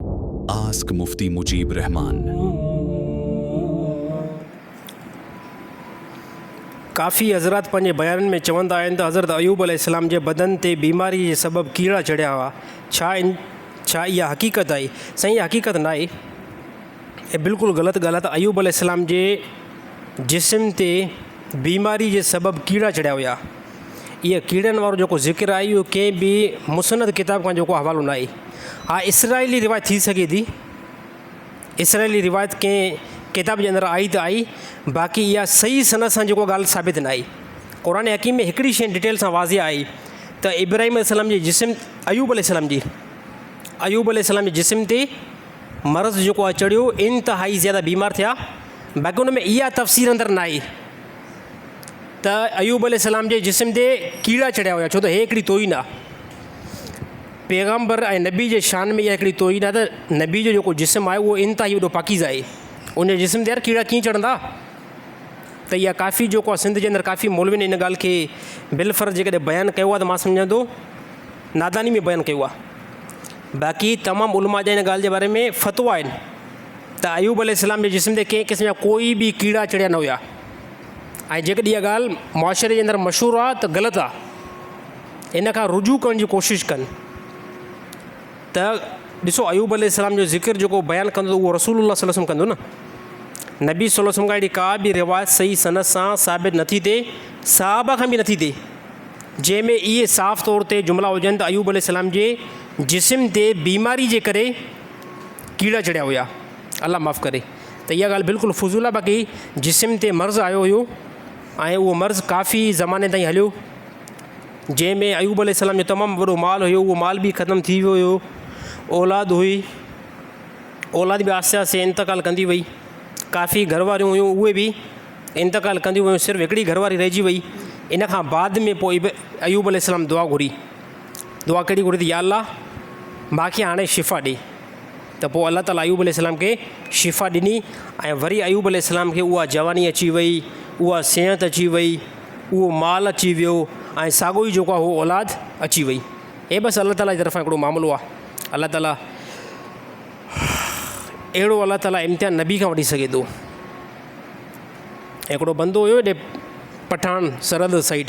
Ask Mufti Mujeeb Rahman. ڪافي حضرات پنهنجي بيانن ۾ چوندا آهن ته حضرت ايوب عليه السلام جي بدن تي بيماري جي سبب ڪيڙا چڙهيا هئا. ڇا ان ڇا اها حقيقت آهي؟ سائين اها حقيقت ناهي. اها بلڪل غلط ڳالهه آهي ته ايوب عليه السلام جي جسم تي بيماري جي سبب ڪيڙا چڙهيا هيا. اهي ڪيڙن وارو جيڪو ذڪر آهي اهو ڪنهن به مسند ڪتاب کان جيڪو حوالو ناهي. اها اسرائيلي روايت ٿي سگهي ٿي. اسرائيلي روايت ڪنهن ڪتاب جي اندر آئي ته آئي باقي اها صحيح سند سان جيڪو ڳالهه ثابت ناهي. قرآن حڪيم ۾ هڪڙي شيء ڊٽيل سان واضح آهي ته ابراهيم عليه السلام جي جسم ايوب عليه السلام جي ايوب عليه السلام جي جسم تي مرض جيڪو آهي چڙهيو انتهائي زياده بيمار ٿيا باقي ان ۾ اها تفصيل اندر ناهي. ته ايوب عليه السلام جي جسم تي ڪيڙا چڙهيا هيا ڇو ته هي هڪڙي توهين آ پيغمبر ۽ نبي جي شان ۾ اها هڪڙي توهين آ ته نبي جو جيڪو جسم آهي اهو انتهائي وڏو پاڪيزه آهي ان جي جسم تي يار ڪيڙا ڪيئن چڙهندا ته اها ڪافي جيڪو آهي سنڌ جي اندر ڪافي مولوين ان ڳالهه کي بلفرض جيڪڏهن بيان ڪيو آهي ته مان سمجهان ٿو ناداني ۾ بيان ڪيو آهي باقي تمام علماء جا ان ڳالهه جي باري ۾ فتوا آهن ته ايوب عليه السلام جي جسم تي ڪنهن قسم جا ڪوئي به ڪيڙا چڙهيا نه هيا ۽ جيڪڏهن اها ڳالهه معاشري جي اندر مشهور آهي ته غلط آهي ان کان رجوع ڪرڻ جي ڪوشش ڪن ته ڏسو ايوب عليه السلام جو ذڪر جيڪو بيان ڪندو اهو رسول الله صلي الله عليه وسلم ڪندو نه نبي صلي الله عليه وسلم کان اهڙي ڪا به روايت صحيح سند سان ثابت نٿي ٿئي صحابه کان به نٿي ٿئي جنهن ۾ اهي صاف طور تي جملا هجن ته ايوب عليه السلام جي جسم تي بيماري جي ڪري ڪيڙا چڙهيا هيا. الله معاف ڪري ته اها ڳالهه بلڪل فضول آهي باقي جسم تي مرض آيو هيو ۽ اهو مرض ڪافي زماني تائين هليو جنهن ۾ ايوب عليه السلام جو تمام وڏو مال هيو اهو مال به ختم ٿي ويو هيو اولاد هئي اولاد به آهستي آهستي انتقال ڪندي وئي ڪافي گهر واريون هيون اهي به انتقال ڪنديون ويون صرف هڪڙي گهر واري رهجي وئي ان کان بعد ۾ پوء ايوب عليه السلام دعا گهري دعا ڪهڙي گهري ٿي يا الله ماء کي هاڻي شفا ڏي ته پوء الله تعالٰي ايوب عليه السلام کي شفا ڏني ۽ وري ايوب عليه السلام کي اها جواني اچي وئي اها صحت اچي وئي اهو مال اچي ويو ۽ ساڳو ئي جيڪو اهو اولاد اچي وئي هي بس الله تعالٰي جي طرفان هڪڙو معاملو آهي الله تعالٰي اهڙو الله تعالٰي امتحان نبي کان وٺي سگهي ٿو هڪڙو بندو هيو هيڏي پٺاڻ سرحد سائيڊ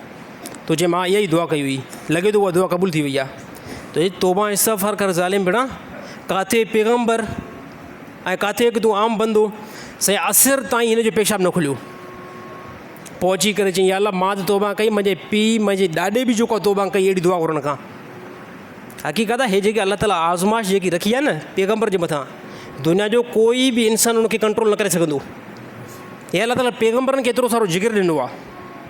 تنهنجي ماء اها ئي دعا ڪئي هئي. لڳي ٿو اها دعا قبول ٿي وئي آهي. تنهنجي توبه ۽ استغفار ڪر ظالم ڀيڻا. ڪاٿي پيغمبر ۽ ڪاٿي هڪ تون عام بندو. سائين عصر تائين هن جو پيشاب نه کليو. پوء اچي ڪري چيائين يا الله مان ته توبه ڪئي منهنجي پيء منهنجي ڏاڏي به جيڪا توبه ڪئي اهڙي دعا گهر ان کان. حقيقت آهي هي جيڪي الله تعالي آزمائش جيڪي رکي آهي نه پيغمبر جي مٿان دنيا جو ڪوئي به انسان ان کي ڪنٽرول نه ڪري سگهندو. هي الله تعالي پيغمبرن کي ايترو سارو جگر ڏنو آهي.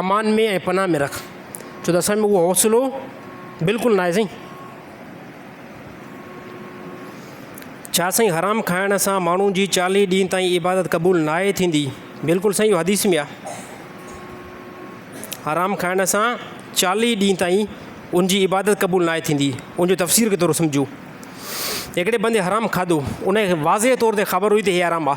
امان ۾ ۽ پناهه ۾ رک ڇو ته اسان ۾ اهو حوصلو بلڪل ناهي سائين. ڇا سائين حرام کائڻ سان ماڻهو جي چاليهه ڏينهن تائين عبادت قبول ناهي ٿيندي. بلڪل سائين اهو حديث ۾ آ حرام کائڻ سان چاليهه ڏينهن تائين ان جي عبادت قبول ناهي ٿيندي ان جو تفسير ڪي ٿورو سمجهو هڪڙي بندي حرام کاڌو ان کي واضح طور تي خبر هئي ته هي حرام آ.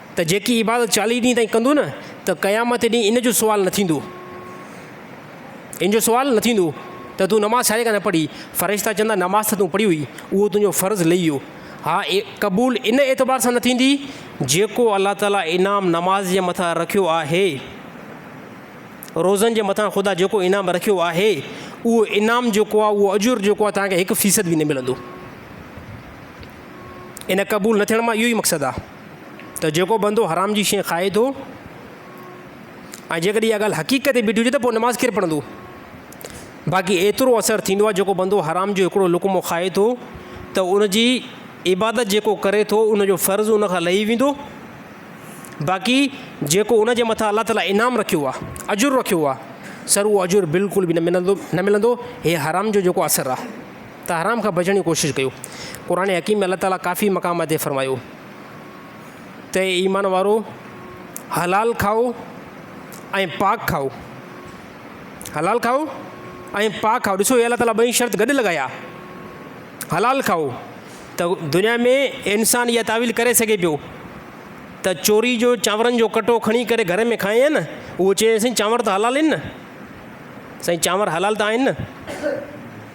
ته جيڪي عبادت چاليهه ڏينهن تائين ڪندو نه ته قيامت جي ڏينهن ان جو سوال نه ٿيندو، ان جو سوال نه ٿيندو ته تون نماز ڇاجي ڪري نه پڙهي، فرشتا چوندا نماز ته تون پڙهي هئي، اهو تنهنجو فرض لهي ويو، اها قبول ان اعتبار سان نه ٿيندي جيڪو الله تعاليٰ انعام نماز جي مٿان رکيو آهي، روزن جي مٿان خدا جيڪو انعام رکيو آهي، اهو انعام جيڪو آهي، اهو اجر جيڪو آهي توهان کي هڪ فيصد به نه ملندو، ان قبول نه ٿيڻ مان اهو ئي مقصد آهي. ته جيڪو بندو حرام جي شيء کائي ٿو ۽ جيڪڏهن اها ڳالهه حقيقت تي بيٺي هجي ته پوء نماز ڪير پڙهندو؟ باقي ايترو اثر ٿيندو آهي جيڪو بندو حرام جو هڪڙو لقمو کائي ٿو ته ان جي عبادت جيڪو ڪري ٿو ان جو فرض ان کان لهي ويندو باقي جيڪو ان جي مٿان الله تعاليٰ انعام رکيو آهي اجر رکيو آهي سر اهو اجر بلڪل به نه ملندو نه ملندو هي حرام جو جيڪو اثر آهي ته حرام کان بچڻ جي ڪوشش ڪيو. قرآن حڪيم ۾ الله تعاليٰ ڪافي مقام تي فرمايو ته اي ايمان وارؤ! حلال کائو ۽ پاڪ کائو. حلال کائو ۽ پاڪ کائو. ڏسو هي الله تعاليٰ ٻئي شرط گڏ لڳايا. حلال کائو ته دنيا ۾ انسان اها تعويل ڪري سگهي پيو ته چوري جو چانورن جو ڪٽو کڻي ڪري گهر ۾ کائين نه اهو چئي سائين چانور ته حلال آهن نه. سائين چانور حلال ته آهن نه.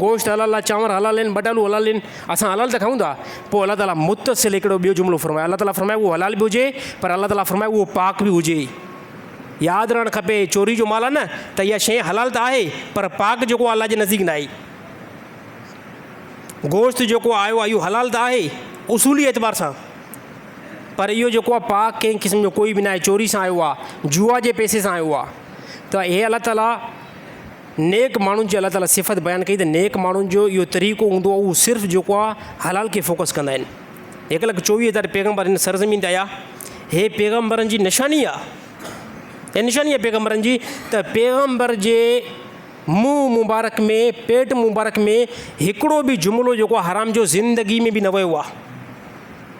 گوشت حلال آ، چانور حلال آهن، ٻٽالو حلال آهن، اسان حلال ته کائون ٿا. پوء الله تعاليٰ متصل هڪڙو ٻيو جملو فرمايو، الله تعاليٰ فرمايو اهو حلال به هجي پر الله تعاليٰ فرمايو اهو پاڪ به هجي. ياد رهڻ کپي چوري جو مال آهي نه ته اها شيء حلال ته آهي پر پاڪ جيڪو آهي الله جي نزديڪ ناهي. گوشت جيڪو آيو آهي اهو حلال ته آهي اصولي اعتبار سان پر اهو جيڪو آهي پاڪ ڪنهن قسم جو ڪوئي به ناهي چوري سان آيو آهي، جوا جي پئسي سان آيو آهي ته هي الله تعاليٰ نيڪ ماڻهن جي الله تعالي صفت بيان ڪئي ته نيڪ ماڻهن جو اهو طريقو هوندو آهي اهو صرف جيڪو آهي حلال کي فوڪس ڪندا آهن هڪ لک چوويهه هزار پيغمبر هن سرزمين تي آيا هي پيغمبرن جي نشاني آ هي نشاني آ پيغمبرن جي ته پيغمبر جي منهن مبارڪ ۾ پيٽ مبارڪ ۾ هڪڙو به جملو جيڪو حرام جو زندگي ۾ به نه ويو آ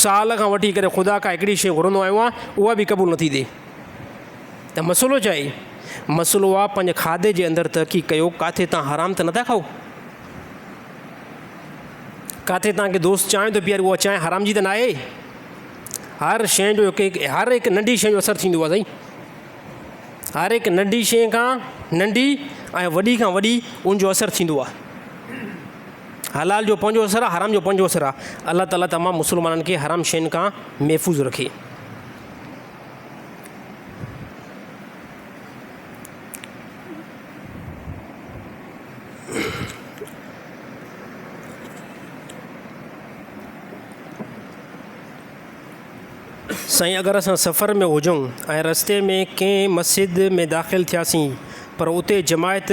سال کان وٺي ڪري خدا کان هڪڙي شيء گهرندو آيو آهيان اها به قبول نٿي ٿئي ته مسئلو ڇا آهي؟ مسئلو آهي پنهنجي کاڌي جي اندر تحقيق ڪيو ڪاٿي تان حرام ته نٿا کائو؟ ڪاٿي تان کي دوست چانهه ٿو پياري اها چانهه حرام جي ته ناهي؟ هر شيء جو هڪ هڪ هر هڪ ننڍي شيء جو اثر ٿيندو آهي سائين هر هڪ ننڍي شيء کان ننڍي ۽ وڏي کان وڏي ان جو اثر ٿيندو آهي حلال جو پنهنجو اثر آ حرام جو پنهنجو اثر آ الله تعالي تمام مسلمانن کي حرام شين کان محفوظ رکي. سائين اگر اسان سفر ۾ هجون ۽ رستي ۾ ڪنهن مسجد ۾ داخل ٿياسين پر اتي جماعت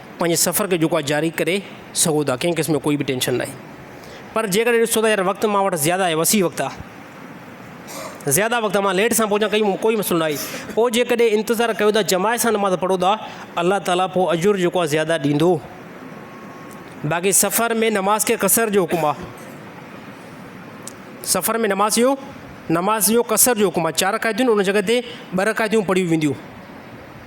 پنهنجي سفر کي جيڪو آهي جاري ڪري سگهو ٿا ڪنهن قسم جو ڪوئي به ٽينشن ناهي پر جيڪڏهن ڏسو ته يار وقت مان وٽ زياده آهي وسيع وقت آهي زياده وقت مان ليٽ سان پهچان ڪئي ڪوئي مسئلو ناهي پوء جيڪڏهن انتظار ڪيو ٿا جماعت سان نماز پڙهو ٿا الله تعالا پوء اجر جيڪو آهي زياده ڏيندو باقي سفر ۾ نماز کي قصر جو حڪم آهي سفر ۾ نماز جو نماز جو قصر جو حڪم آهي چار رکايتون ان جڳه تي ٻه رکايتون پڙهيون وينديون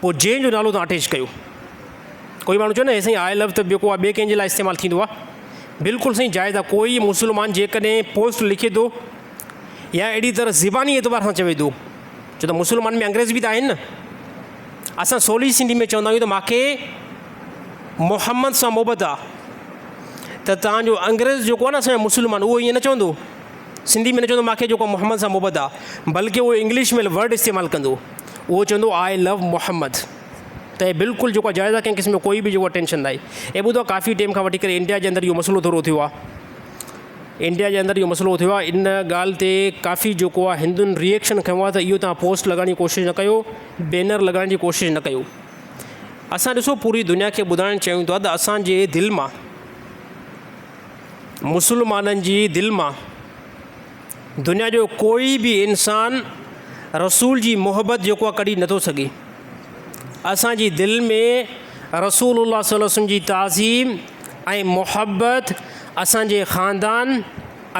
پوء جنهن جو نالو تان اٽيچ ڪيو. ڪوئي ماڻهو چوي نه هي سائين آء لفظ ته ٻيو ڪو ٻي ڪنهن جي لاء استعمال ٿيندو آ. بلڪل سائين جائز آ ڪوئي مسلمان جيڪڏهن پوسٽ لکي ٿو يا اهڙي طرح زباني اعتبار سان چوي ٿو ڇو ته مسلمان ۾ انگريز به ته آهن نه اسان سولي سنڌي ۾ چوندا آهيون ته ماکي محمد سان محبت آ ته تان جو انگريز جيڪو آ نه اسان جو مسلمان اهو ائين نه چوندو سنڌي ۾ نه چوندو ماکي جيڪو محمد سان محبت آ بلڪه اهو انگلش ۾ ورڊ استعمال ڪندو. اهو چوندو آء لو محمد ته هي بلڪل جيڪو جائز آ ڪنهن قسم جو ڪوئي به جيڪو ٽينشن ناهي هي ٻڌو ڪافي ٽيم کان وٺي ڪري انڊيا جي اندر اهو مسئلو ٿورو ٿيو آ انڊيا جي اندر اهو مسئلو ٿيو آ ان ڳالهه تي ڪافي جيڪو آ هندن ريئڪشن کنيو آ ته اهو تهان پوسٽ لڳائڻ جي ڪوشش نه ڪيو بينر لڳائڻ جي ڪوشش نه ڪيو اسان ڏسو پوري دنيا کي ٻڌائڻ چاهيون ٿا ته اسانجي دل مان مسلمانن جي دل مان دنيا جو ڪوئي به انسان رسول جي محبت جيڪو آ ڪڍي نٿو سگهي. اسان جي دل ۾ رسول الله صلي الله عليه وسلم جي تعظيم ۽ محبت اسان جي خاندان،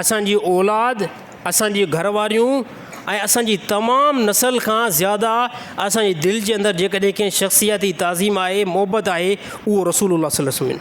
اسان جي اولاد، اسان جي گهر واريون ۽ اسان جي تمام نسل کان زياده اسان جي دل جي اندر جيڪڏهن ڪنهن شخصياتي تعظيم آهي، محبت آهي اهو رسول الله صلي الله عليه وسلم.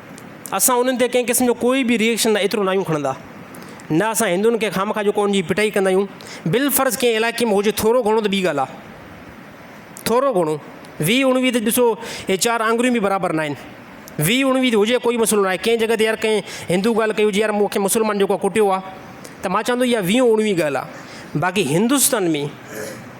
اسان انهن تي ڪنهن قسم جو ڪوئي به ريئڪشن نه ايترو ناهيون کڻندا. نه اسان هندن کي خامخواه جو ڪون جي پٽائي ڪندا آهيون. بالفرض ڪنهن علائقي ۾ هجي ٿورو گهڻو ته ٻي ڳالهه آهي. ٿورو گهڻو. ويهه اڻويهه ته ڏسو هي چار آڱريون به برابر ناهن. ويهه اڻويهه ته هجي ڪوئي مسئلو ناهي. ڪنهن جڳهه تي يار ڪنهن هندو ڳالهه ڪئي هجي يار مون کي مسلمان جيڪو ڪٽيو آهي ته مان چوندو اها ويهه اڻويهه ڳالهه آهي. باقي هندستان ۾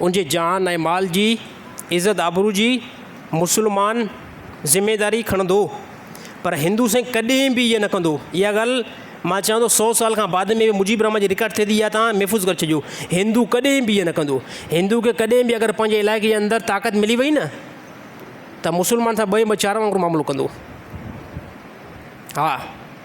ان جي جان ۽ مال جي، عزت آبرو جي مسلمان ذميداري کڻندو پر هندو سائين ڪڏهن به اهي نه ڪندو اها ڳالهه مان چوان ٿو سو سال کان بعد ۾ مجيب الرحمان جي رڪارڊ ٿئي ٿي اها توهان محفوظ ڪري ڇڏيو هندو ڪڏهن به اهي نه ڪندو هندو کي ڪڏهن به اگر پنهنجي علائقي جي اندر طاقت ملي وئي نه ته مسلمان سان ٻئي ٻه چار وانگر معاملو ڪندو ها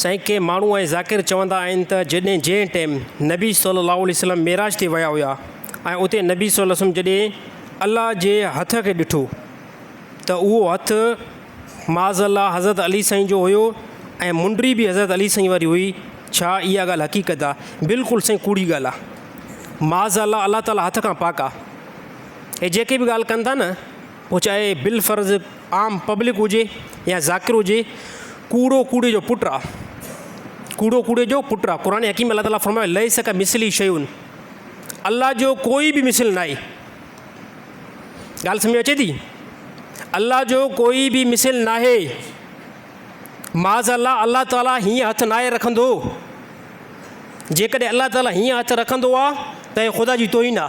سائين ڪي ماڻهو ۽ ذاڪر چوندا آهن ته جڏهن جنهن ٽيم نبي صلي الله عليه وسلم معراج تي ويا هيا ۽ اتي نبي صلي الله عليه وسلم جڏهن الله جي هٿ کي ڏٺو ته اهو هٿ معاذ الله حضرت علي سائين جو هيو ۽ منڊي به حضرت علي سائين واري هئي ڇا اها ڳالهه حقيقت آهي بلڪل سائين ڪوڙي ڳالهه آهي معاذ الله الله تعالي هٿ کان پاڪ آهي هي جيڪي به ڳالهه ڪن ٿا نه پوء چاهي بالفرض عام پبلڪ هجي يا ذاڪر هجي، ڪوڙو ڪوڙي جو پٽ آ. ڪوڙو ڪوڙي جو پٽ آ. قرآن حڪيم ۾ الله تعاليٰ فرمايو، ليس ڪمثله شيء الله جو ڪوئي به مثل ناهي. ڳالهه سمجهه ۾ اچي ٿي؟ الله جو ڪوئي به مثل ناهي. معاذالله الله تعاليٰ هيئن هٿ ناهي رکندو. جيڪڏهن الله تعاليٰ هيئن هٿ رکندو آ ته هي خدا جي توهين آ.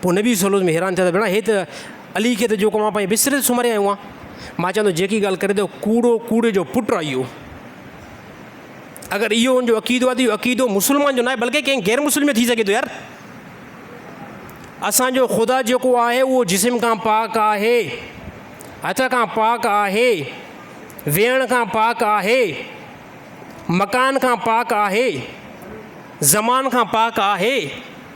پوء نبي صلعم به حيران ٿيا ته ڀيڻا هي ته علي کي ته جيڪو اوهان پنهنجي بستري تي سمهاري آيون آهن. مان چوان ٿو جيڪي ڳالهه ڪري ٿو ڪوڙو ڪوڙي جو پٽ آهي اهو. اگر اهو ان جو عقيدو آهي ته اهو عقيدو مسلمان جو ناهي بلڪه ڪنهن غير مسلم جو ٿي سگهي ٿو يار. اسان جو خدا جيڪو آهي اهو جسم کان پاڪ آهي، هٿ کان پاڪ آهي، ويهڻ کان پاڪ آهي، مڪان کان پاڪ آهي، زمان کان پاڪ آهي.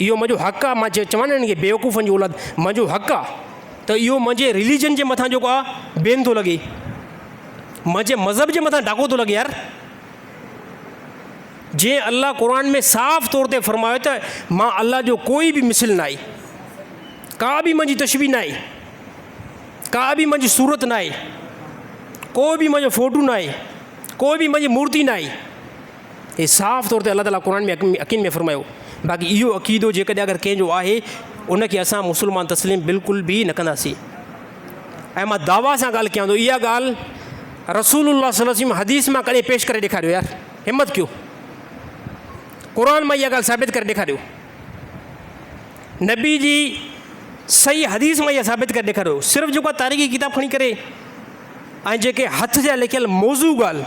اهو منهنجو حق آ مان جيئن چوان هنن کي بيوقوفن جي اولاد منهنجو حق آ ته اهو منهنجي رليجن جي مٿان جيڪو آ بين ٿو لڳي منهنجي مذهب جي مٿان ڊاڪو ٿو لڳي يار جي الله قرآن ۾ صاف طور تي فرمايو ته مان الله جو ڪوئي به مثل نه آهي ڪا به منهنجي تشبي نه آهي ڪا به منهنجي صورت نه آهي ڪو به منهنجو فوٽو نه آهي ڪو به منهنجي مورتي نه آهي هي صاف طور تي الله تعاليٰ قرآن ۾ عقين ۾ فرمايو. باقي اهو عقيدو جيڪڏهن اگر ڪنهن جو آهي ان کي اسان مسلمان تسليم بلڪل به نه ڪنداسين. ۽ مان دعويٰ سان ڳالهه ڪيان ٿو اها ڳالهه رسول الله صلي الله عليه وسلم حديث مان ڪڏهن پيش ڪري ڏيکاريو يار همت ڪيو قرآن مان اها ڳالهه ثابت ڪري ڏيکاريو نبي جي صحيح حديث مان اها ثابت ڪري ڏيکاريو صرف جيڪو تاريخي ڪتاب کڻي ڪري ۽ جيڪي هٿ جا لکيل موضوع ڳالهه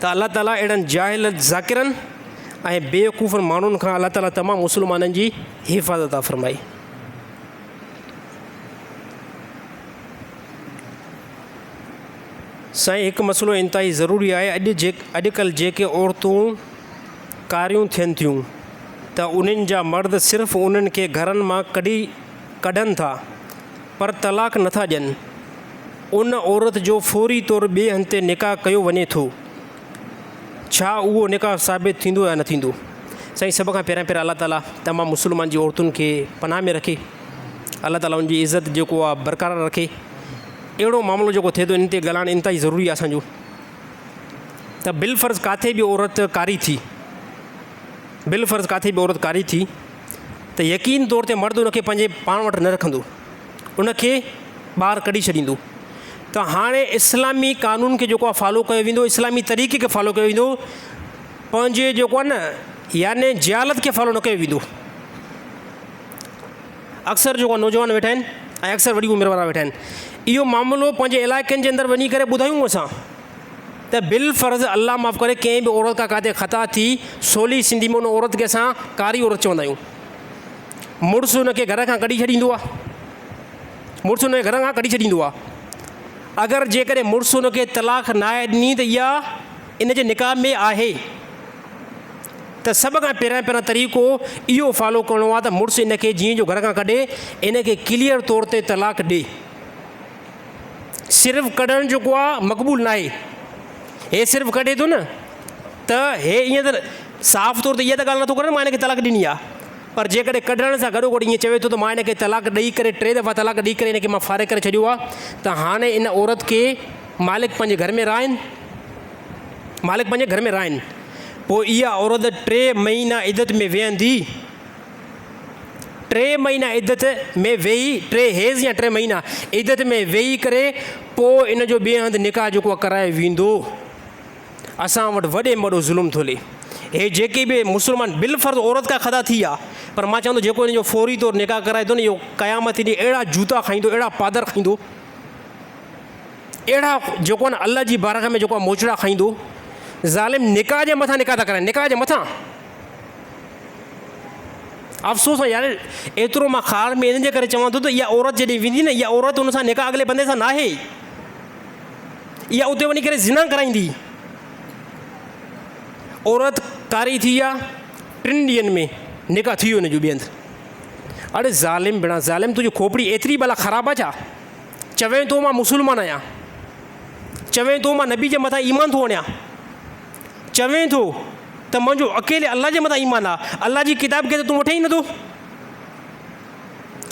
ته الله تعاليٰ اهڙن جاهل ذاڪرن ۽ بيوقوفن ماڻهن کان الله تعاليٰ تمام مسلمانن جي حفاظت عطا فرمائي. سائين هڪ مسئلو انتهائي ضروري آهي اڄ جي اڄڪلهه جيڪي عورتون ڪاريون ٿين ٿيون ته انهن جا مرد صرف انهن کي گهرن مان ڪڍي ڪڍن ٿا پر طلاق نه ٿا ڏين، ان عورت جو فوري طور ٻئي هنڌ تي نڪاح ڪيو وڃي ٿو، ڇا اهو نڪاح ثابت ٿيندو يا نه ٿيندو؟ سائين سڀ کان پهريان پهريان الله تعالي تمام مسلمان جي عورتن کي پناهه ۾ رکي، الله تعالي ان جي عزت جيڪو آ برقرار رکي، اهڙو معاملو جيڪو ٿئي ٿو ان تي ڳالهائڻ انتهائي ضروري آ اسان جو ته بالفرض ڪاٿي به عورت ڪاري ٿي، بالفرض ڪاٿي به عورت ڪاري ٿي، ته يقيني طور تي مرد ان کي پنهنجي پاڻ وٽ نه رکندو، ان کي ٻاهر ڪڍي ڇڏيندو. ته هاڻي اسلامي قانون کي جيڪو آهي فالو ڪيو ويندو، اسلامي طريقي کي فالو ڪيو ويندو، پنهنجي جيڪو آهي نه يعني جهالت کي فالو نه ڪيو ويندو. اڪثر جيڪو نوجوان ويٺا آهن ۽ اڪثر وڏي عمر وارا ويٺا آهن، اهو معاملو پنهنجي علائقن جي اندر وڃي ڪري ٻڌايون اسان. ته بالفرض الله معاف ڪري ڪنهن به عورت کان ڪاتي خطا ٿي، سولي سنڌي ۾ ان عورت کي اسان ڪاري عورت چوندا آهيون. مڙس ان کي گهر کان ڪڍي ڇڏيندو آهي. مڙس ان کي گهر کان ڪڍي ڇڏيندو آهي. اگر جيڪڏهن مڙس ان کي طلاق ناهي ڏني ته اها ان جي نڪاح ۾ آهي. ته سڀ کان پهريان پهريان طريقو اهو فالو ڪرڻو آهي ته مڙس ان کي جيئن جو گهر کان ڪڍي ان کي ڪليئر طور تي طلاق ڏي. صرف ڪڍڻ جيڪو آ مقبول ناهي. هي صرف ڪڍي ٿو نه ته هي ائين ته صاف طور تي اها ته ڳالهه نٿو ڪري نه مان هن کي طلاق ڏني آ پر جيڪڏهن ڪڍڻ سان گڏوگڏ ائين چوي ٿو ته مان هن کي طلاق ڏئي ڪري ٽي دفعا طلاق ڏئي ڪري هن کي مان فارغ ڪري ڇڏيو آ ته هاڻي ان عورت کي مالڪ پنهنجي گهر ۾ رهائين مالڪ پنهنجي گهر ۾ رهائين پوء اها عورت ٽي مهينا عدت ۾ ويهندي. ٽي مهينا عدت ۾ ويهي، ٽي حيض يا ٽي مهينا عدت ۾ ويهي ڪري پوء ان جو ٻئي هنڌ نڪاح جيڪو آهي ڪرايو ويندو. اسان وٽ وڏي ۾ وڏو ظلم ٿو هلي. هي جيڪي به مسلمان بالفرض عورت ڪا خطا ٿي آ پر مان چوان ٿو جيڪو هن جو فوري طور نڪاح ڪرائي ٿو نه اهو قيامت جي ڏينهن اهڙا جوتا کائيندو اهڙا پادر کائيندو اهڙا جيڪو آهي نه الله جي بارگاھ ۾ جيڪو آهي موچڙا کائيندو. ظالم نڪاح جي مٿان نڪاح ٿا ڪرائين نڪاح جي مٿان. افسوس آ يار ايترو مان خار ۾ ان جي ڪري چوان ٿو ته اها عورت جيڏي ويندي نه اها عورت ان سان نڪاح اڳلي بندي سان ناهي اها اتي وڃي ڪري زنا ڪرائيندي عورت ڪاري ٿي آ ٽن ڏينهن ۾ نڪاح ٿي ويو ان جو ٻي هنڌ اڙي ظالم بنا ظالم تنهنجي کوپڙي ايتري بلا خراب آ ڇا چوين ٿو مان مسلمان آهيان چوين ٿو مان نبي جي مٿان ايمان ٿو وڻيان چوين ٿو ته منهنجو اڪيلي الله جي مٿان ايمان آ، الله جي ڪتاب کي ته تون وٺين ئي نٿو،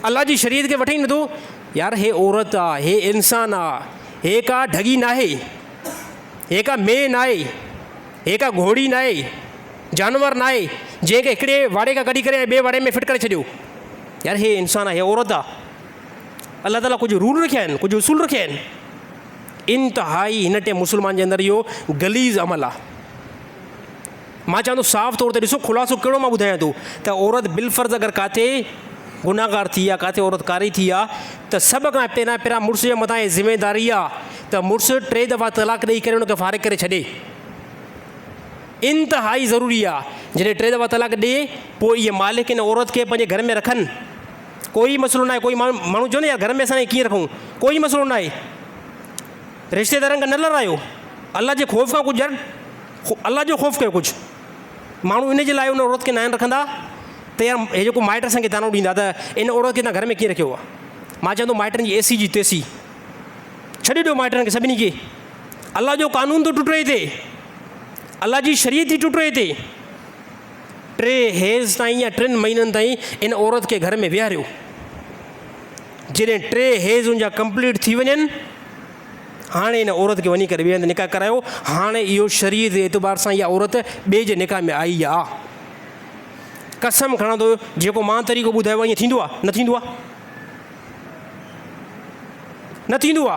الله جي شريعت کي وٺين ئي نٿو، يار هي عورت آ، هي انسان آ، هي ڪا ڍڳي ناهي، هي ڪا مينهن ناهي، هي ڪا گهوڙي ناهي، جانور ناهي، جنهن کي هڪڙي واڙي کان ڪڍي ڪري ۽ ٻئي واڙي ۾ فٽ ڪري ڇڏيو، يار هي انسان آ، هي عورت آ، الله تعاليٰ ڪجهه رول رکيا آهن، ڪجهه اصول رکيا آهن. انتهائي هن ٽئين مسلمان جي اندر اهو غليظ عمل آ. مان چوان ٿو صاف طور تي ڏسو خلاصو ڪهڙو مان ٻڌايان ٿو ته عورت بالفرض اگر ڪاٿي گناهگار ٿي آ ڪاٿي عورت ڪاري ٿي آ ته سڀ کان پهريان پهريان مڙس جي مٿان اهي ذميداري آ ته مڙس ٽي دفعا طلاق ڏئي ڪري ان کي فارغ ڪري ڇڏي. انتهائي ضروري آ جڏهن ٽي دفعا طلاق ڏئي پوء اهي مالڪ ان عورت کي پنهنجي گهر ۾ رکن ڪوئي ئي مسئلو ناهي، ڪوئي ماڻهو ماڻهو چوندو يار گهر ۾ اسان کي ڪيئن رکون، ڪوئي ئي مسئلو ناهي. رشتيدارن کان نه لڙايو، الله جي خوف کان ڪجهه يار الله جو خوف ڪيو ڪجهه. ماڻهو ان جي لاء ان عورت کي ناهن رکندا ته يار هي جيڪو مائٽ اسان کي طعنو ڏيندا ته ان عورت کي تون گهر ۾ ڪيئن رکيو آهي. مان چوان ٿو مائٽن جي ايسي جي تيسي ڇڏي ڏيو مائٽن کي سڀني کي. الله جو قانون ٿو ٽٽي هتي، الله جي شريعت ٿي ٽٽي هتي. ٽي هيز تائين يا ٽن مهينن تائين ان عورت کي گهر ۾ ويهاريو. جڏهن ٽي هيز ان جا ڪمپليٽ ٿي وڃن، هاڻي ان عورت کي وڃي ڪري ٻئي هنڌ نڪاح ڪرايو. هاڻي اهو شريعت جي اعتبار سان اها عورت ٻئي جي نڪاح ۾ آئي آ. قسم کڻان ٿو جيڪو مان طريقو ٻڌايو آ ائين ٿيندو آ؟ نه ٿيندو آ. نه ٿيندو آ.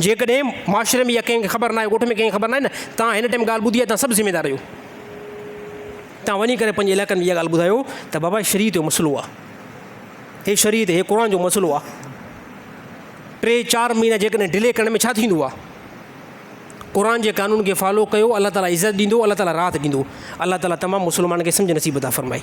جيڪڏهن معاشري ۾ اها ڪنهن کي خبر ناهي، ڳوٺ ۾ ڪنهن کي خبر ناهي نه، توهان هن ٽائيم ڳالهه ٻڌي آهي، توهان سڀ ذميوار آهيو. توهان وڃي ڪري پنهنجي علائقن ۾ اها ڳالهه ٻڌايو ته بابا هي شريعت جو مسئلو آهي. هي شريعت، هي قرآن جو مسئلو آهي. ٽي چار مهينا جيڪڏهن ڊلي ڪرڻ ۾ ڇا ٿيندو آهي. قرآن جي قانون کي فالو ڪيو، الله تعاليٰ عزت ڏيندو، الله تعاليٰ راحت ڏيندو. الله تعاليٰ تمام مسلمانن کي سمجهه نصيب عطا فرمائي.